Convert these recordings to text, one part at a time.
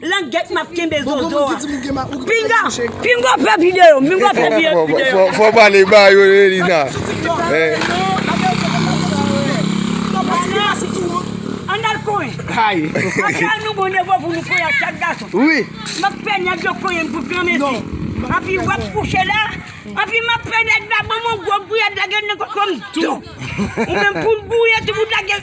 Langèt map kenbe zozo a. Pinga! Pinga fè video! Pinga fè video! Fò pale ba yo Elina. An al konyen. Hay. Apre nou bon devo pou nou konyen chak gason. Wi. Map fè nèg yo konyen pou gran mesi. Api wap kouche la. Api map fè nèg la banm on gwo gouyad lage nan kokom. Tou. Ou menm poul gouye tou bout lage.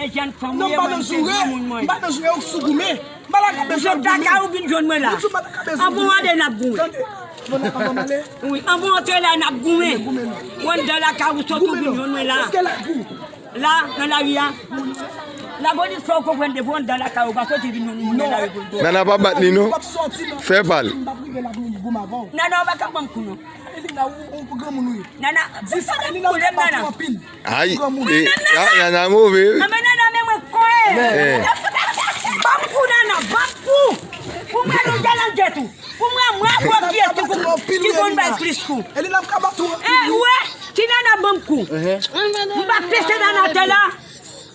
Non m pa nan joure, m pa nan joure ou k sou goumen. M pa nan kabezen ap goumen. Ou vin jwenn mwen la. An pou antre la n ap goumen. An pou antre la n ap goumen. Ou antre la ka ou sot ou vin jwenn mwen la. La nan la ri a. La polis fè ou konprann depi ou antre la ka ou pa sot ou vin jwenn mwen la. Nana pa bat li non. Fè pa l. Nana ou pa ka banm kou non. Nana ou pa ka banm kou. Ayi nana move wi. Anben nana men mwen kwe. Banm kou nana banm kou. Pou mwen nou galange tou. Pou mwen mwen abòkye tou pou mwen ki konn bay plis kou. Ou wè ti nana banm kou. M pa pese nana atè la.